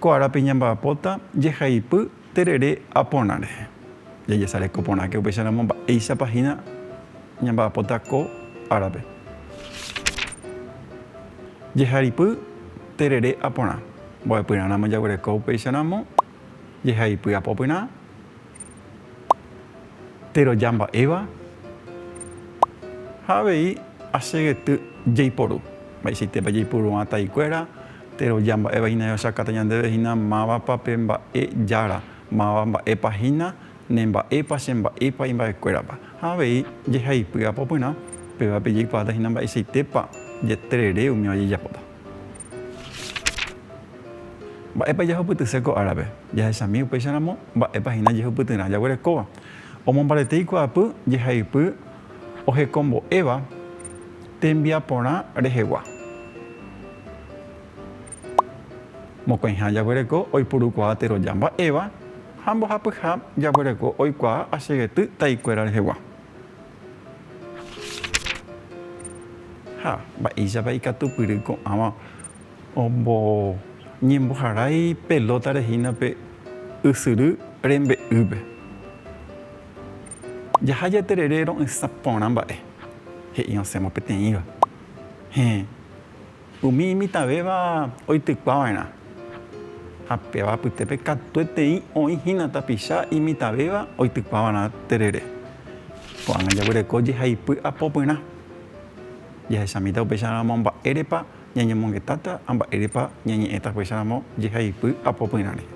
Ko árape ñamba'apóta jehaipy terere aporãre. Jajesareko porãke upéicharamo mba'éichapa hína ñamba'apóta ko árape. Jeharipy terere aporã. Mbo'epyrã ramo jaguereko upéicharamo jehaipy apopyrã. Teroja mba'éva ha avei asegety jaiporu. Mba'eichaitépa jaipuru'ã taikuéra teroja mba'éva hína jahechakáta ñandéve hína mávapa pe mba'e jára, máva mba'épa hína, ne mba'épa, che mba'épa imba'ekuérapa. Ha avei jehaipy apopyrã, pévape jaikuaáta hína mba'eichaitépa jeterere umíva jajapóta. Mba'épa jahupytyse ko árape? Jahechami upéicharamo mba'épa hína jehupytyrã jaguerekóva. Omombarete ikuaapy jehaipy ohekombo'éva tembiaporã rehegua. Mokõiha jaguereko oipurukuaa teroja mba'éva ha mbohapyha jaguereko oikuaa asegety taikuéra rehegua. Ha mba'éichapa ikatupyry ko'ãva oñemboharái pelótare hína pe ysyry rembe'ýpe. Jaha jaterere ro'ysã porã mba'e, he'i osẽvo peteĩva. Héẽ. Umi imitãvéva oitykua va'erã ha péva apytépe katuetei oĩ hína tapicha imitãvéva oitykua va'erã terere. Ko'ág̃a jaguyereko jehaipy apopyrã. Jahechamíta upéicha ramo mba'érepa ñañemongetáta ha mba'érepa ñañe'ẽta upéicha ramo jehaipy apopyrã rehe.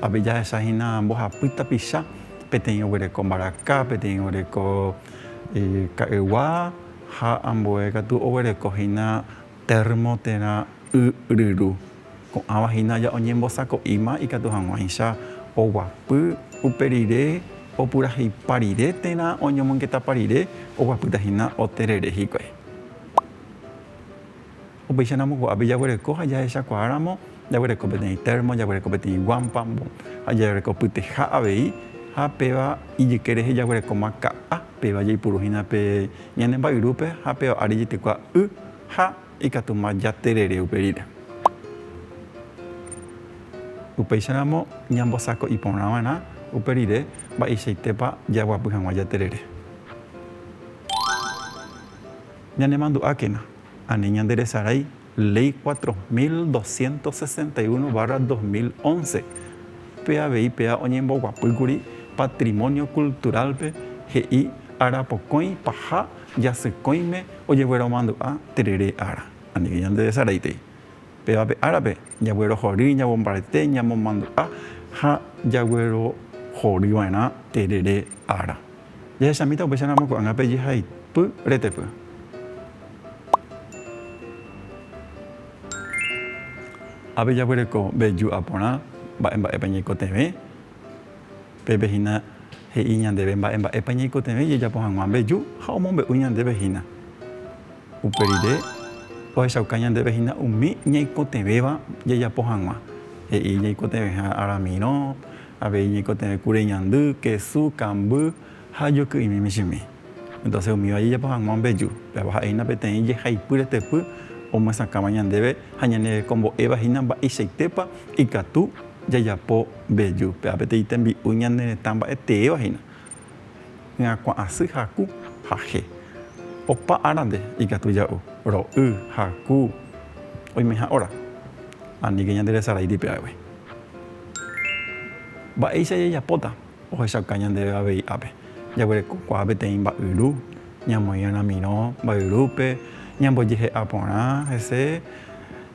Ápe jahecha hína mbohapy tapicha, peteĩ oguereko mbaraka, peteĩ oguereko ka'ygua Ha ambue katu oguereko hína térmo térã y ryru. Ko'ãva hína ja oñembosako'íma ikatu hag̃uáicha oguapy upe rire, opurahéipa rire térã oñomongetapa rire, oguapýta hína oterere hikuái. Upéicharamo ko'ápe jaguereko ha jahechakuaáramo, jaguereko peteĩ térmo, jaguereko peteĩ guámpa ha jaguereko pyteha avei. Ha péva ijyke rehe jaguerekóma ka'a, péva jaipuruhína pe ñane mba'yrúpe ha péva ári jaitekua y ha ikatúma jaterere upe rire. Upéicharamo ñambosako'i porã va'erã upe rire mba'eichaitépa jaguapy hag̃ua jaterere. Ñanemandu'ákena. Ani ñanderesarái Léi cuatro mil doscientos sesenta y uno barra dos mil once, pe avei péva oñemboguapýkuri patrimonio cultural-pe he'i arapokõi paha jasykõime ojegueromandu'a terere ára. Anive ñanderesaraitei. Pévape árape, jaguerohory, ñamombarete, ñamomandu'a ha jaguerohorýva'erã terere ára. Jahechamíta upéicha ramo ko'ág̃ape jehaipy retepy. Ápe jaguereko veju aporã mba'e mba'épa ñaikotevẽ. Pépe hína he'i ñandéve mba'e mba'épa ñaikotevẽ ijajapo hag̃ua veju ha omombe'u ñandéve hína. Upe rire, ohechauka ñandéve hína umi ñaikotevẽva jajapo hag̃ua, he'i ñaikotevẽha Ramiro, Avei ñaikotevẽ kure ñandy, kesu, kamby ha joky'imi michĩmi. Entonces umíva jajapo hag̃ua mbeju, péva ha'éina peteĩ jehaipy retepy omyesakãva ñandéve ha ñanerekombo'éva hína mba'eichaitépa ikatu jajapo mbeju. Péva peteĩ tembi'u ñane retã mba'e teéva hína. Ñakuã'asy haku ha he. Opa árande ikatu ja'u, ro'y, haku, oimeha óra. Aníke ñande resarái tipia'égui. Mba'éicha jajapóta ohechauka ñandéve avei ápe? Jaguerekokuaa peteĩ mba'yru, ñamoĩ ramirõ mba'yrúpe, ñambojehe'a porã hese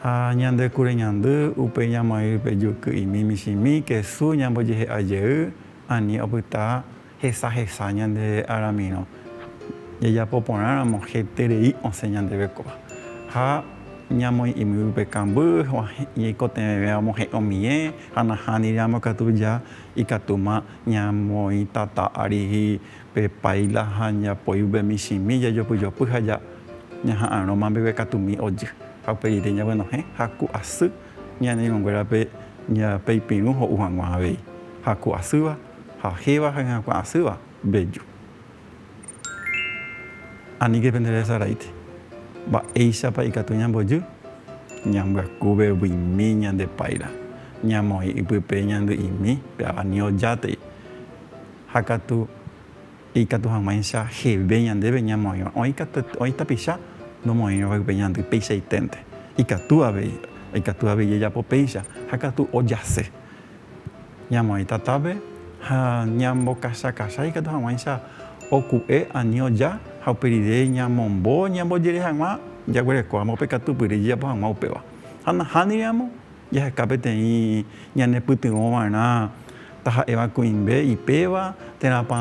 ha ñande kureñandy, upéi ñamoĩ pe juky'imi michĩmi, kesu, ñambojehe'a jey. Ani opyta hesahesa ñande aramirõ jajapo porãramo heterei osẽ ñandéve kóva. Ha ñamoĩ'imi yvype kamby, ñaikotevẽve amohe'ẽ omie ha nahániramo katu ja ikatúma ñamoĩ tata ári pe páila ha japoi yvype michĩmi jajopyjopy ha ñaha'arõma mbeguekatumi ojy. Ha uperire ñaguenohẽ ha ku asy. Ñane irũnguérape ñe'ape ipirũ ho'u hag̃ua avei, haku asýva, hahéva ha hyakuã asýva, bello. Aníke pende resaraíte. Mba'éichapa ikatu ñambojy? Ñambyaku vevyimi ñande páira, ñamoĩ ipype ñandy'imi pe avani ojátei ha katu. Ikatu hag̃uáicha jeve ñandéve ñamoĩva, oĩ katu, oĩ tapicha nomoĩrõva ype ñandy peichaiténte. Ikatu avei, ikatu avei jajapo péicha ha katu ojase. Ñamoĩ tatápe ha ñambokachakachái ikatu hag̃uáicha oku'e ani oja ha upe rire ñamombo ñambojere hag̃ua jaguerekóramo pe katupyry jajapo hag̃ua upéva. Ha nahániri ramo, Jaheka peteĩ ñanepytyvõva'erã taha'éva kuimbé ipéva térãpa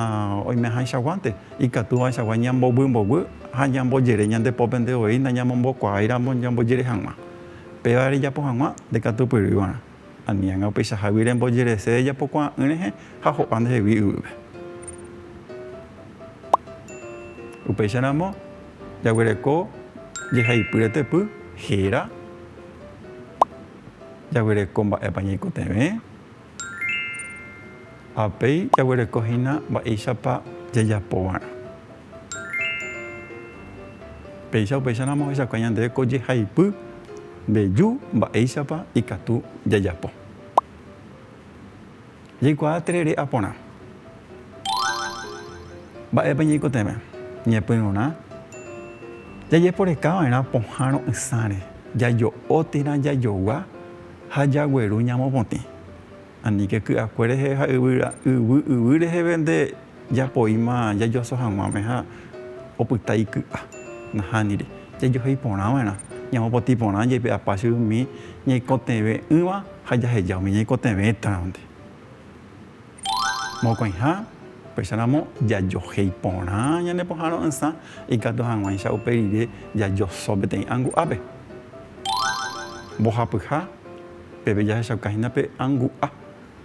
oimehaichaguánte, ikatúvaichagua ñambovymbovy ha ñambojere ñande pópente voi ndañamombokuaáiramo ñambojere hag̃ua. Péva rejapo hag̃ua ndekatupyrývarã, aniág̃a upeichahágui rembojerese rejapokuaa'ỹ rehe ha ho'a ndehegui yvýpe. Upéicharamo, Jaguereko jehaipy retepy héra. Jaguereko mba'épa ñaikotevẽ. Ha upéi jaguereko hína mba'éichapa jajapovarã. Péicha upéicharamo ohechauka ñandéve ko jehaipy mbeju mba'éichapa ikatu jajapo. Jaikuaa terere a porã. Mba'épa ñaikotevẽ? Ñepyrũrã jajeporekava'erã pohã ro'ysãre, jajo'o térã jajogua ha jagueru ñamopotĩ. Aníke ky'akue rehe ha yvy yvy reheve nde Japoíma jajoaso hag̃uáme ha opyta iky'a. Nahániri. Jajohéi porã va'erã. Ñamopotĩ porã jaipe'apa che umi ñaikotevẽ'ỹva ha jaheja umi ñaikotevẽtarõnte. Mokõiha, upéicharamo jajohéi porã ñane pohã ro'ysã, ikatu hag̃uáicha upe rire jajoso peteĩ angu'ápe. Mbohapyha, peve jahechaukahína pe angu'a,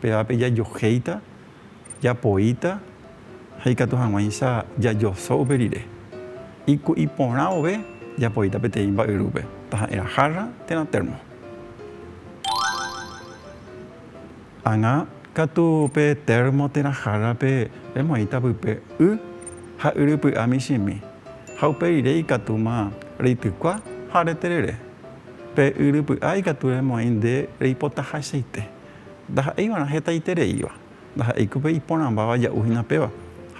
pévape jajohéita Japoíta ha ikatu hag̃uáicha jajoso upe rire. Iku'i porã vove japoíta peteĩ mba'yrúpe, taha'érã jarra térã termo. Ág̃a katu pe termo térã jarrape remoĩta pype y ha yrypy'a michĩmi, ha upe rire ikatúma reitykua ha reterere. Pe yrypy'a ikatu remoĩ nde reipotahachaite, ndaha'éi va'erã hetaitereíva. Ndaha'éiko pe iporãmbáva ja'u hína péva,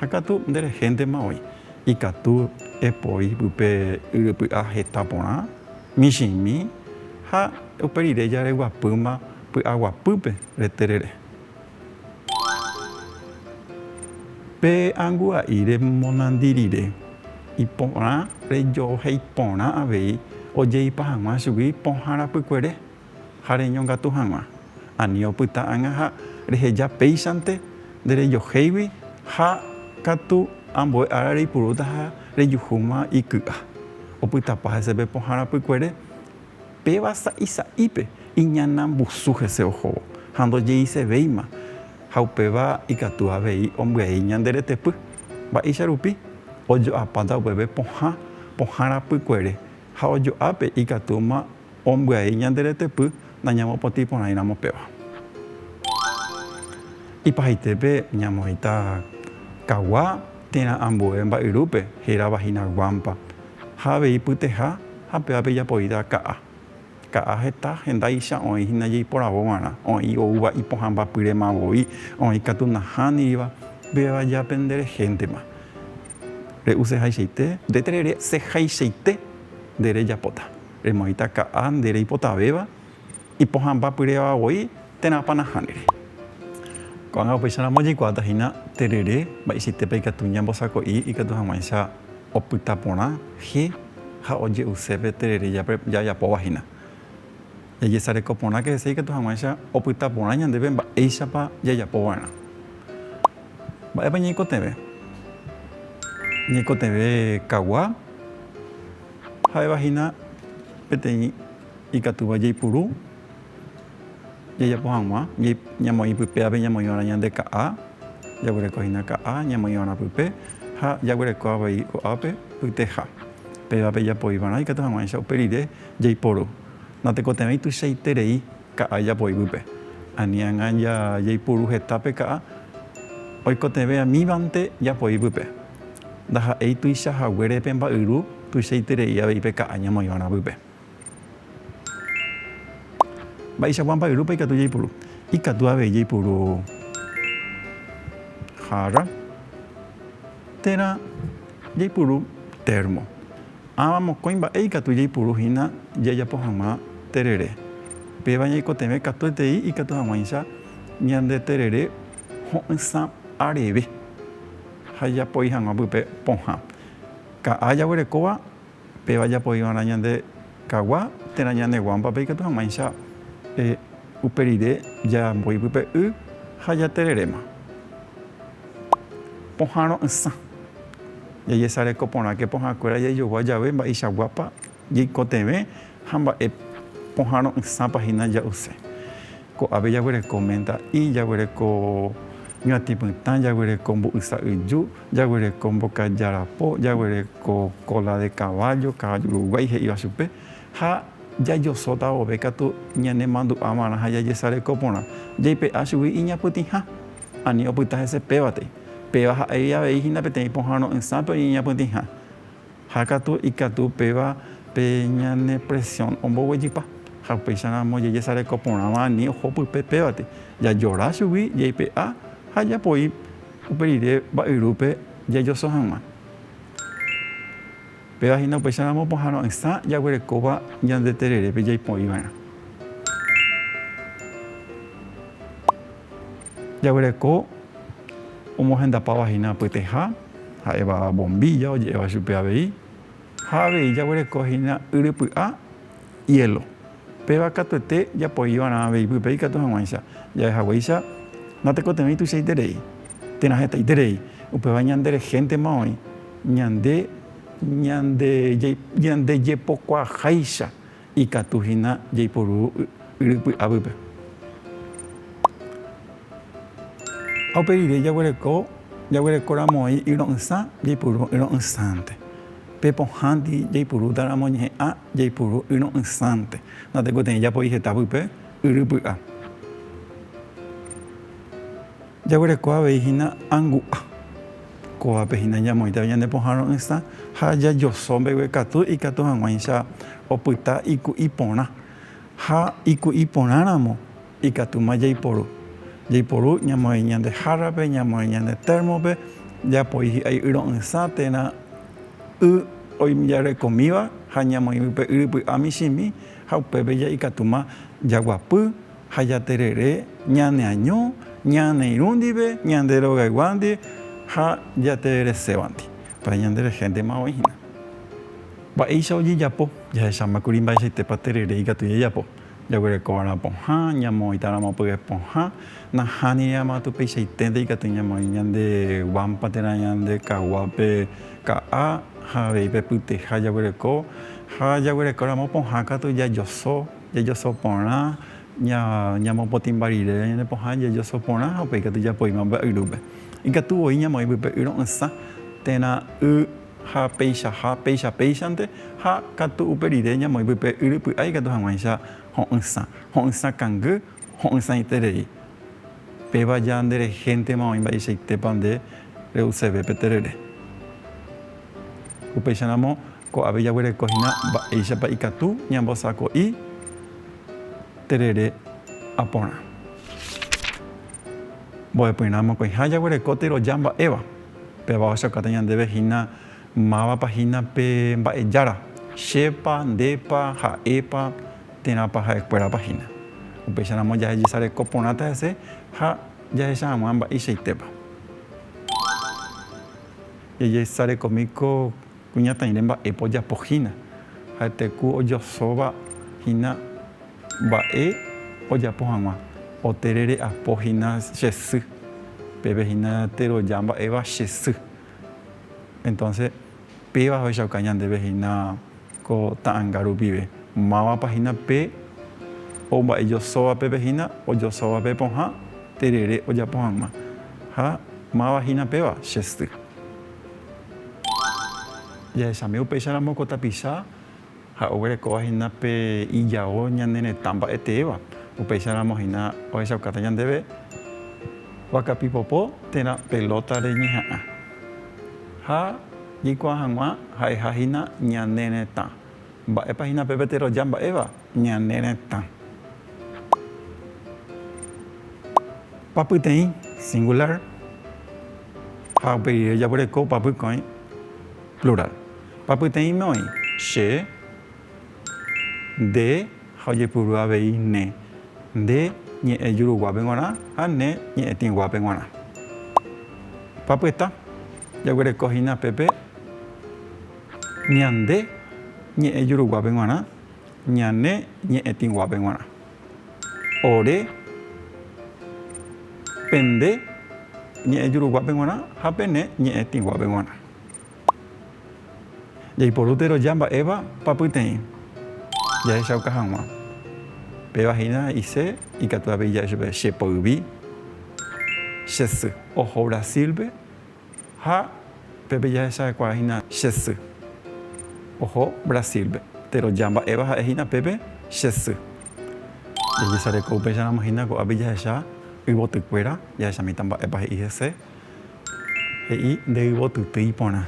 ha katu nde rehéntema oĩ. Ikatu epoi pype yrypy'a heta porã, michĩmi ha upe rire jareguapýma py'aguapýpe reterere. Pe angua'i remonandi rire, iporã rejoheipporã avei ojeipa hag̃ua chugui pohãrapykuere. ha reñongatu hag̃ua, ani opyta ág̃a ha reheja péichante nde rejohéigui ha katu ambue ára reipurúta ha rejuhúma iky'a. Opytapa hese pe pohãra pykuere, péva sa'i sa'ípe iñana mbusu hese ohóvo ha ndojeisevéima ha upéva ikatu avei ombyai ñande retepy. Mba'éicha rupi? Ojo'apáta upépe pohã pohãra pykuere ha ojo'ápe ikatúma Ombyai ñande retepy nañamopotĩ porãi ramo péva. Ipahaitépe ñamoĩta kagua térã ambue mba'yrúpe héra vagina guampa ha avei pyteha ha pévape japoíta ka'a. Ka'a heta hendáicha oĩ hína jeiporavo g̃uarã, oĩ oúva ipohãmbapyrema voi, oĩ katu nahániriva, péva jape nde rehéntema. Re'usehaichaite, nde terere sehaichaite nde rejapóta. Remoĩta ka'a nde reipotavéva, ipohãmba pyréva voi térã panaha ndere. Ko'ág̃a upéicharamo jaikuaáta hína terere mba'eichaitépa ikatu ñambosako'i ikatu hag̃uáicha opyta porã je ha oje'use pe terere jajapóva hína. Jajesareko porãke hese ikatu hag̃uáicha opyta porã ñandéve mba'éichapa jajapo va'erã. Mba'épa ñaikotevẽ? Ñaikotevẽ kagua. Ha'éva hína peteĩ ikatúva jaipuru jajapo hag̃ua, ñamoĩ pype ápe ñamoĩva'erã ñande ka'a, jaguereko hína ka'a ñamoĩva'erã pype ha jaguereko avei ko'ápe pyteha. Pévape japoiva'erã ikatu hag̃uáicha upe rire jaiporu. Natekotevẽi tuichaiterei Ka'a japo yvýpe. Aniangã jaipuru heta pe ka'a oikotevẽ amívante japo yvýpe. Ndaha'éi tuicha haguére pe mba'yru tuichaiterei avei pe ka'a ñamoĩva ravýpe. Mba'eichagua mba'yrúpa ikatu jaipuru? Ikatu avei jaipuru jarra térã jaipuru termo. Ãva mokõi mba'e ikatu jaipuru hína jajapo hag̃ua terere. Péva ñaikotevẽ katuetei ikatu hag̃uáicha ñande terere ho'ysã areve ha japoi hag̃ua pype pohã. Ka'a jaguerekóva péva japoiva'erã ñande kagua térã ñane guámpape ikatu hag̃uáicha. Upe rire jaambói pype y ha jatereréma. Pohã ro'ysã. Jajesareko porãke pohãkuéra jaijogua jave mba'eichaguápa jaikotevẽ ha mba'e pohã ro'ysãpa hína ja'use. Ko'ápe jaguereko ménta y, jaguereko ñuatĩ pytã, jaguereko mbu'ysa yju, jaguereko mbokaja rapo, jaguereko kóla de kavájo, kavájo uruguái he'íva chupe, Ha jajosóta vove katu ñanemandu'avarã ha jajesareko porã, jaipe'a chugui iñapytĩha, ani opyta hese pévatei. Péva ha'égui avei hína peteĩ pohãro'ỹsápe oñeñapytĩha. Ha katu ikatu péva pe ñane presión omboguejypa. Ha upéicharamo jajesareko porãva ani oho pype pévate, jajora chugui, jaipe'a ha japoi uperire mba'yrúpe jajoso hag̃ua. Péva hína upéicharamo pohãno'ỹsã jaguerekóva ñande tererépe jaipo'iva'erã. Jaguereko omohendapáva hína pyteha, ha'éva bombilla oje'éva chupe avei, ha avei jaguereko hína yrypy'a, hielo. Péva katuete japoiva'erã avei ipype ikatu hag̃uáicha jave haguéicha natekotevẽi tuichaiterei, térã hetaiterei, upéva ñanderehéntema oĩ ñande ñandejepokuaaháicha ikatu hína jaiporu yry py'apýpe. Ha upe rire jaguereko jaguerekoramo'ãi yro'ysã jaiporu yro'ysãnte. Pe pohãndi jaipurúta ramo ñe'ã jaipuru yro'ysãnte, natekotevẽ japoi heta pype yry py'a. Jaguereko avei hína angu'a. Kóvape hína ñamoĩtavi ñane pohã ro'ysã ha jajoso mbegue katu ikatu hag̃uáicha opyta iku'i porã ha iku'i porã ramo. Ikatúma jaiporu. Jaiporu ñamoĩ ñande hárrape, ñamoĩ ñande térmope, japoi hi'ai yro'ysã térã y oijarekomíva ha ñamoĩvy pe yrypy'a michĩmi ha upépe ikatúma jaguapy ha jaterere ñaneaño, ñaneirũ ndive, ñande rogayguándi ha jatereresévanti. Upéva ñande rehentema oĩ hína. Mba'éicha ojejapo? Jahecháma kuri mba'eichaitépa terere ikatu jajapo. Jaguerekova'erã pohã, ñamoĩtaramo pyve pohã, nahániri ama tupeicháitente ikatu ñamoĩ ñande guampa térã ñande kaguápe ka'a ha avei pe pyteha jaguereko ha jaguerekóramo pohã katu jajoso, jajoso porã, ñamopotĩmba rire ñande pohã jajoso porã ha upéi katu japoíma mba'yrúpe. Ikatu voi ñamoĩ pype y ro'ysã térã y. ha peichaha péicha péichante, ha katu upe rire ñamoĩmby pe yry py'a ikatu hag̃uáicha ho'ysã, ho'ysã kangy, ho'ysãiterei. Péva ja nde rehéntema oĩ mba'eichaitépa nde re'useve pe terere. Upéicharamo ko'ápe jaguereko hína mba'éichapa ikatu ñambosako'i terere aporã. Mbo'epyrã mokõiha jaguereko teroja mba'éva. Péva ohechakuaáta ñandéve hína mávapa hína pe Mba'ejára, chépa, ndépa, ha'épa, térãpa ha'ekuérapa hína. Upéicharamo jahejesareko porãta hese ha jahecha hag̃ua mba'eichaitépa. Jajesarekomi ko. Kuñataĩre mba'épa ojapo hína. Ha'ete ku ojosóva hína mba'e ojapo hag̃ua. Oterere apo hína che sy. Peve hína teroja mba'éva che sy. Entonce péva ohechauka ñandéve hína ko ta'anga rupive. Mávapa hína pe o mba'e josóva pépe hína, ojosóva pe pohã terere ojapo hag̃ua. Ha máva hína péva che sy. Jahechami upéicharamo ko tapicha ha oguerekóva hína pe ijao ñane retã mba'eteéva, upéicharamo hína ohechaukáta ñandéve vaka pipopo térã pelota reñeha'ã ha jaikuaa hag̃ua ha'eha hína ñane retã. Mba'épa hína pe pe teroja mba'éva? Ñane retã. Papyteĩ, singular, ha upe rire jaguereko papykõi, plural. Papyteĩme oĩ, che, nde ha ojepuru avei ne, nde ñe'ẽ juruguápe g̃uarã ha ne ñe'ẽ tĩguápe g̃uarã. Papyta, jaguereko hína pépe ñande ñe'ẽ juruguápe g̃uarã. Ñane ñe'ẽtĩguápe g̃uarã. Ore, pende ñe'ẽjuruguápe g̃uarã ha pene ñe'ẽtĩguápe g̃uarã. Jaiporu teroja mba'éva papyteĩ jahechauka hag̃ua. Péva hína he'ise ikatu avei jave chupe che poyvi, che sy. Oho Brasil-pe Ha pépe jahechahekuaa hína che sy. Oho Brasil-pe. Péro ja mba'éva ha'e hína pépe che sy. Jajesareko upéicharamo hína ko'ápe jahecha yvotykuéra, jahecha mitã mba'épa he'i hese. He'i nde yvotytýi porã.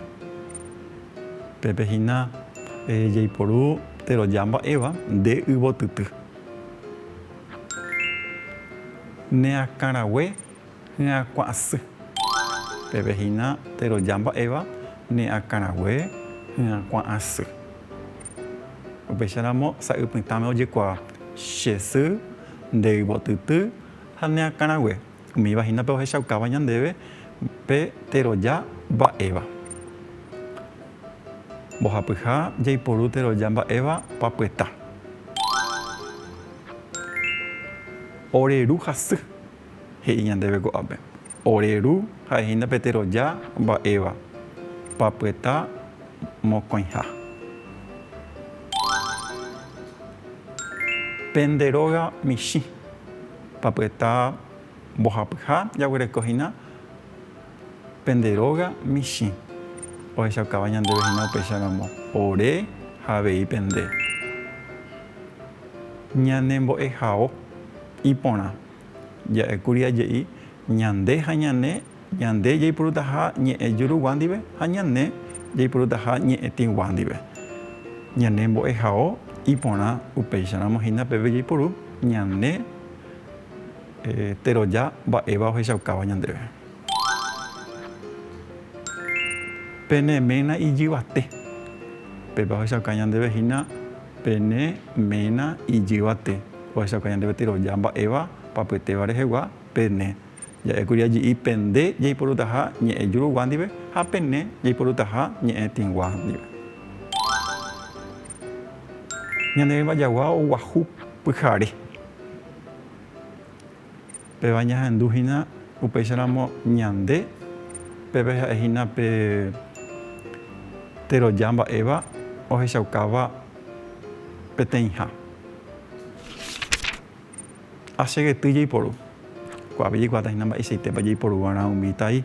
Pépe hína jaiporu péro ja mba'éva nde yvotyty. Ne akãrague Hyakuã'asy. Peve hína teroja mba'éva ne akãrague hyakuã'asy. Upéicharamo sa'y pytãme ojekuaa che sy, nde yvotyty ha ne akãrague. Umíva hína pe ohechaukáva ñandéve pe teroja mba'éva. Mbohapyha jaiporu teroja mba'éva papyeta. Oreruhasy. he'i ñandéve ko'ápe, Ore Ru ha'ehína pe teroja mba'éva, papyeta mokõiha. Pende róga michĩ, papyeta mbohapyha jaguereko hína pende róga michĩ, ohechaukáva ñandéve hína upéicha ramo, Ore ha avei pende ñanembo'ehao iporã. Ja'ékuri aje'i ñande ha ñane, ñande jaipurutaha ñe'ẽ jurugua ndive ha ñane jaipurutaha ñe'ẽ tĩgua ndive. Ñane mbo'ehao iporã upéicharamo hína peve jaipuru ñane teroja mba'éva ohechaukáva ñandéve. Pene ména ijyvate. Pépe ohechauka ñandéve hína. Pene ména ijyvate, ohechauka ñande peteroja mba'éva papyetéva rehegua, pene, Ja'e kuri aji'i pende jaiporutaha ñe'ẽ jurugua ndive ha pene jaiporutaha ñe'ẽ tĩgua ndive. Ñane rembajagua oguahu pyhare. Péva ñahendu hína upéicharamo ñande, pépe ha'e hína pe teroja mba'éva ohechaukáva peteĩha. Ha che gety jaiporu. Ko'ápe jaikuaáta hína mba'eichaitépa jaiporu va'erã umi tai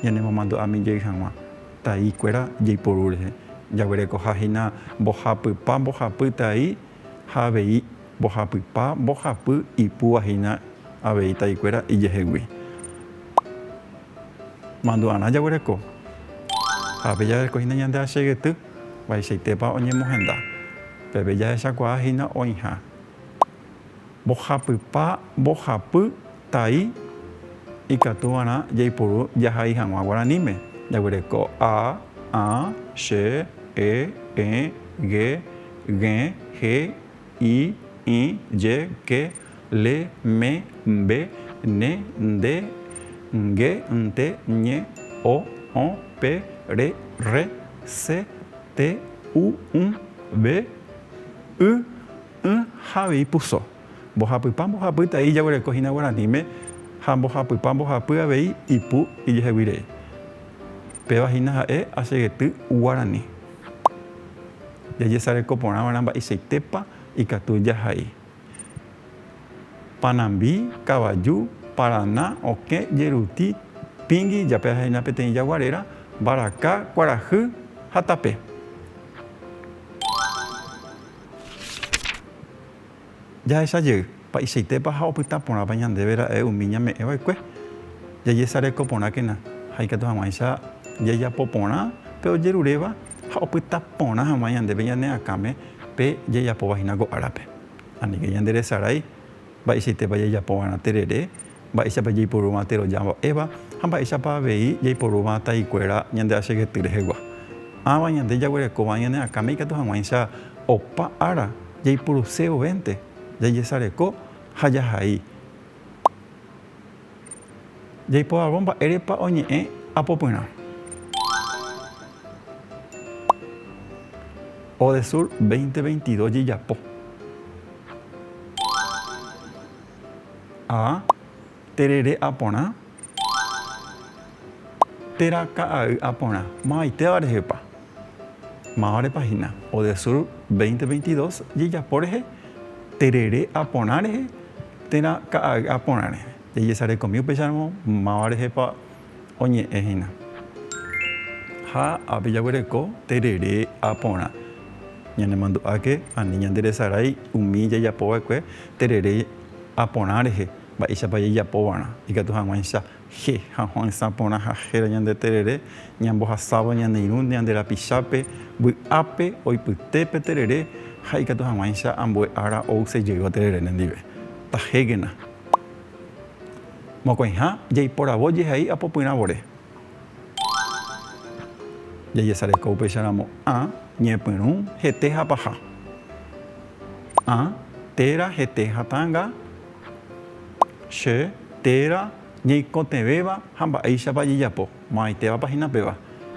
ñanemomandu'ami jey hag̃ua tai kuéra jaiporu rehe. Jaguerekoha hína mbohapypa, mbohapy tai ha avei mbohapypa mbohapy ipúva hína avei taikuéra ijehegui. Mandu'arã jaguereko ha ápe jaguereko hína ñande achegyty vaichaitépa oñemohenda. Peve jahechakuaa hína oĩha mbohapypa mbohapy tai ikatúvarã jaiporu jahai hag̃ua guaraníme, jaguereko a, ã, che, e, ẽ, ge, Ge, he, i, ĩ, je, ke, le, me, mbe, ne, nde, nge, nte, ñe, o, õ, pe, re, rre, se, te, u, ũ, ve, y, ỹ ha avei puso. Mbohapypa mbohapy tai ijaguereko hína guaraníme ha mbohapypa mbohapy avei ipu ijehegui rei. Péva hína ha'e asegety guarani. Jajesareko porã va'erã mba'eichaitépa ikatu jahai. Panambi, kavaju, parana, okẽ, jeruti, pingui, jape ha hína peteĩ jagua réra, mbaraka, kuarahy ha tape. Jahecha jey, mba'eichaitépa ha opyta porãpa ñandéve ra'e umi ñame'ẽ va'ekue. Jajesareko porãkena ha ikatu hag̃uáicha jajapo porã pe ojeruréva ha opyta porã hag̃ua ñandéve ñane akãme pe jajapóva hína ko árape. Aníke ñanderesarái mba'eichaitépa jajapo va'erã terere mba'éichapa jaiporúva térõ jamba'éva ha mba'éichapa avei jaiporúva taikuéra ñande achegety rehegua. Ãva ñande jaguerekóva ñane akãme ikatu hag̃uáicha opa ára jaipuruse ovénte, jajesareko ha jahai. Jaipo'avo mba'érepa oñe'ẽ apopyrã. Odesur 2022 jejapo. A. Terere aporã. Térã ka'ay aporã. Mavaitéva rehepa. Mávarepa hína. Odesur 2022 jejapo rehe terere aporã rehe, térã ka'ay aporã rehe. Jajesarekomi upéicharamo máva rehepa oñe'ẽ hína. Ha ápe jaguereko terere ha porã. Ñanemandu'áke ani ñanderesarái umi jajapo va'ekue terere ha porã rehe, mba'éichapa jajapo va'erã ikatu hag̃uáicha je ha ho'ysã porã ha héra ñande terere ñambohasáva ñane irũ ñande rapichápe vy'ápe oipyte pe terere ha ikatu hag̃uáicha ambue ára ouse jeyva terere nendive. Tahékena. Mokõiha jaiporavo jehai apopyrã vore. Jajesareko upéicha ramo ã, ñepyrũ, hete ha paha. Ã, téra, hete ha tanga. Che, téra, ñeikotevẽva ha mba'éichapa jejapo. Mo'ãitévapa hína péva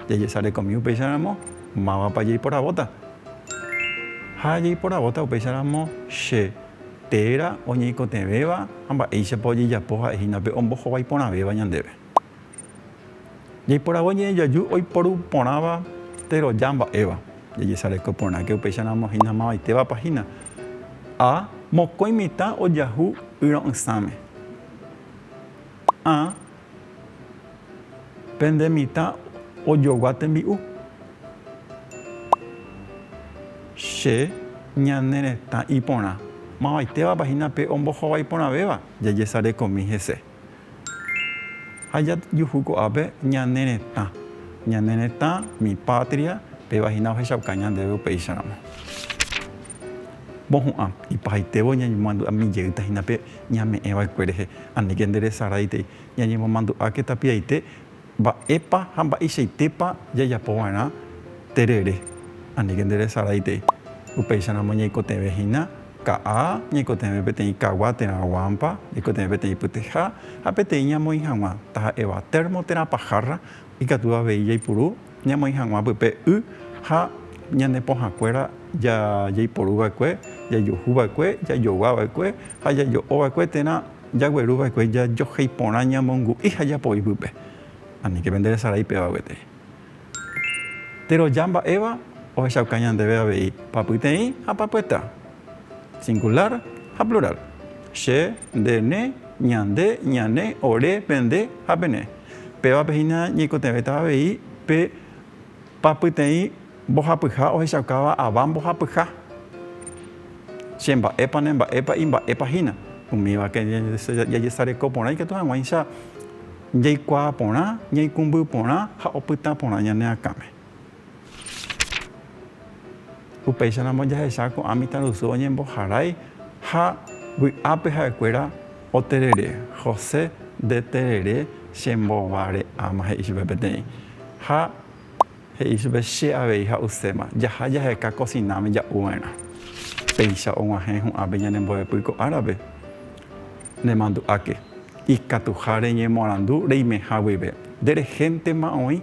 jajesarekomi upéicharamo mávapa jeiporavóta. Ha jeiporavóta upéicharamo che téra oñeikotevẽva ha mba'éichapa ojejapo ha'e hína pe ombohovái porãvéva ñandéve. Jeiporavo ñe'ẽjoaju oiporu porãva teroja mba'éva, jajesareko porãke upéicharamo hína mavaitévapa hína. A. Mokõi mitã ojahu yro'ysãme. A. Pende mitã ojogua tembi'u. Che ñane retã iporã. Mavaitévapa hína pe ombohovái iporãvéva? Jajesarekomi hese. Ha jajuhu ko'ápe ñane retã. Ñane retã, mi patria, péva hína ohechauka ñandéve upéicharamo. Mohu'ã, ipahaitévo ñañemoandu'a mi jeýta hína pe ñame'ẽ va'ekue rehe, aníke nde resaráitei. Ñañemomandu'áke tapiaite mba'épa ha mba'eichaitépa jajapo va'erã terere, aníke nde resaráitei. Upéicha ramo ñaikotevẽ hína ka'a, ñaikotevẽ peteĩ kagua térã guámpa, ñaikotevẽ peteĩ pytyja ha peteĩ ñamoĩ hag̃ua, taha'éva térmo térã pahárra, ikatu avei jaipuru. ñamoĩ hag̃ua pype y ha ñane pohãkuéra jaiporu va'ekue, jajuhu va'ekue, jajogua va'ekue ha jajo'o va'ekue térã jagueru va'ekue jajohéi porã ñamongu'i ha japoi pype. Aníke pende resarái péva gueteri. Teroja mba'éva ohechauka ñandéve avei papyteĩ ha papyeta. Singulár ha plurál. Che, nde, ne, ñande, ñane, ore, pende ha pene. Pévape hína ñaikotevẽta avei pe pa pyteĩ mbohapyha ohechaukáva ava mbohapyha. Che mba'épa, ne mba'épa, imba'épa hína. Umívake jajesareko porã ikatu hag̃uáicha jaikuaa porã, ñaikũmby porã ha opyta porã ñane akãme. Upéicharamo jahecha ko'ã mitãrusu oñemboharái ha vy'ápe ha'ekuéra oterere. José ndeterere chembovare'áma he'i chupe peteĩ. Ha he'i chupe che avei ha'uséma, jaha jaheka kosináme ja'u va'erã. Péicha oguahẽ hu'ãpe ñane mbo'epy ko árape, nemandu'áke. Ikatuha reñemoarandu reimeha guive. Nde rehéntema oĩ.